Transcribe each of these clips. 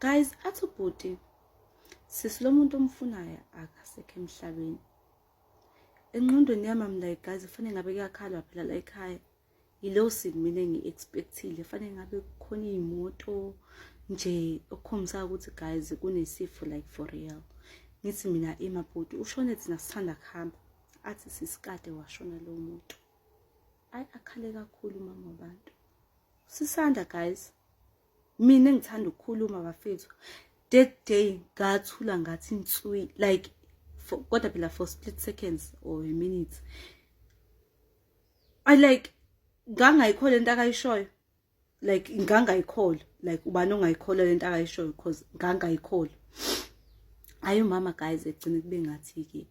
guys athi ubhuti sisi lo muntu omfunayo akasekho emhlabeni enqondweni yami am like guys kufanele ngabe kuyakhalwa phela la ekhaya yilow sin mina ngi-expectile fanele ngabe kukhona iy'moto nje okukhombisayo ukuthi guys kunesifo like for real ngithi mina emabhuti ushone thina sithanda kuhamba athi sisikade washona lowo muntu ayi akhale kakhulu umama wabantu sisanda guys mina ngithanda ukukhuluma bafethu that day ngathula ngathi inswi like kodwa phela for split seconds or a minute i like ngangayikhola into akayishoyo like ngangayikhola like ubani ongayikhola lento akayishoyo because ngangayikhola ayi mama guys egcine kube ngathi ke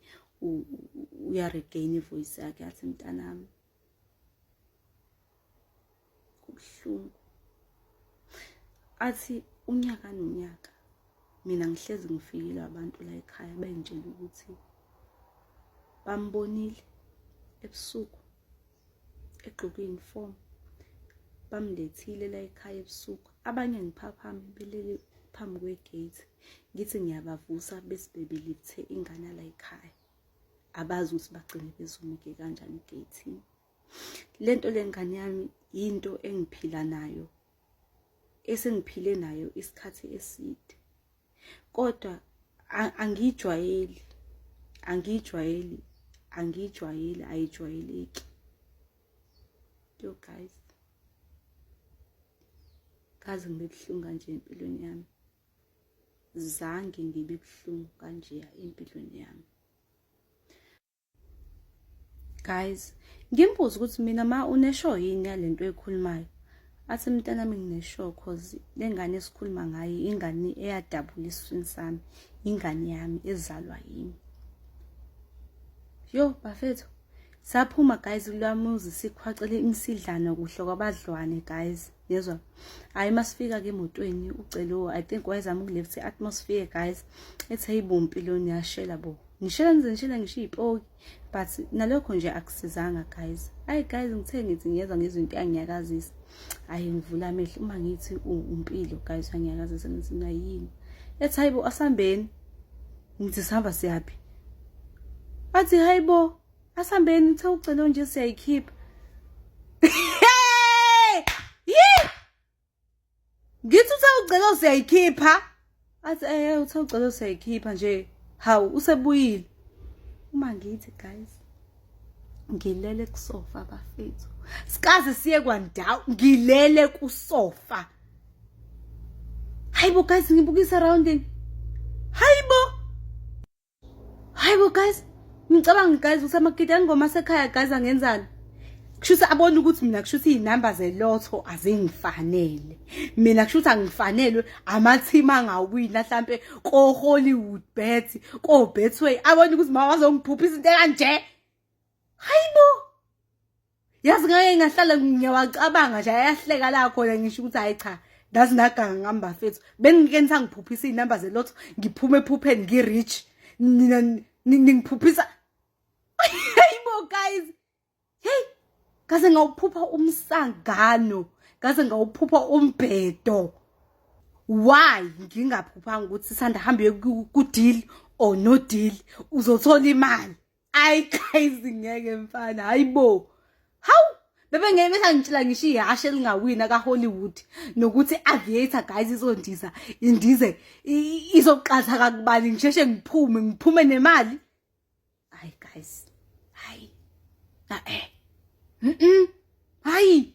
uya regain ivoice yakhe athi mntanami kubuhlungu athi unyaka nonyaka mina ngihlezi ngifikile abantu la ekhaya bengitshela ukuthi bambonile ebusuku egqoke uniform bamlethile la ekhaya ebusuku abanye ngiphaphame belele phambi kwegate ngithi ngiyabavusa bese bebelithe ingane la ekhaya abazi ukuthi bagcine bezumuke kanjani egeyithini le nto le ngane yami yinto engiphila nayo esengiphile nayo isikhathi eside kodwa angiyijwayeli angiyijwayeli angiyijwayeli ayijwayeleki yo guys kaze ngibe buhlungu kanje empilweni yami zange ngibe buhlungu kanje empilweni yami guys ngimbuza ukuthi mina ma unesho yini yalento ekhulumayo athi mntana mi nginesho cause lengane esikhuluma ngayo ingane eyadabula isifini sami ingane yami ezalwa yimi yo bafethu saphuma guys kulwamuzi sikhwacele imisidlana kuhle kwabadlwane guys yezwa hayi masifika ke motweni ucelo i think wayezama ukuleft atmosphere guys ethe ibumpi lo niyashela bo ngishela ngize ngishela ngisho ipoki but nalokho nje akusizanga guys hayi guys ngithe ngithi ngiyezwa ngezinto yangiyakazisa hayi ngivula amehlo uma ngithi umpilo guys yangiyakazisa ngithi nayini ethi hayibo asambeni ngithi sihamba siyaphi athi hayibo asihambeni uthe ucelo nje siyayikhipha ngithi uthe ucelo siyayikhipha athi eh uthe ucelo siyayikhipha nje hawu usebuyile uma ngithi guys ngilele kusofa bafethu sikaze siye kwandawo ngilele kusofa hayibo guys ngibukisa rounding hayibo hayi bo guys ngicabanga guys ukuthi amakiti angoma sekhaya guys angenzani kushuthi abona ukuthi mina kushuthi izinamba zelotho azingifanele mina kushuthi angifanelwe amathimu angawina mhlambe ko Hollywood bet ko Betway abona ukuthi mawazongiphupha izinto kanje hayi bo yazi ngake ngahlala ngiyawacabanga nje ayahleka la khona ngisho ukuthi hayi cha ndazi naganga ngihamba fethu bengike nisangiphuphisa iy'namba zelotho ngiphume ephupheni ngi-rich nina ningiphuphisa hayi bo guys heyi kaze ngawuphupha umsangano kaze ngawuphupha umbhedo why ngingaphuphanga ukuthi sanda hambe kudeal or no deal uzothola imali ayi guys ngeke mfana hayibo hawu bebe ngeke besangitshela ngisho ihashe elingawina kahollywood nokuthi aviator guys izondiza indize izoqatha kakubani ngisheshe ngiphume ngiphume nemali hayi guys hayi na eh mm, -mm. hayi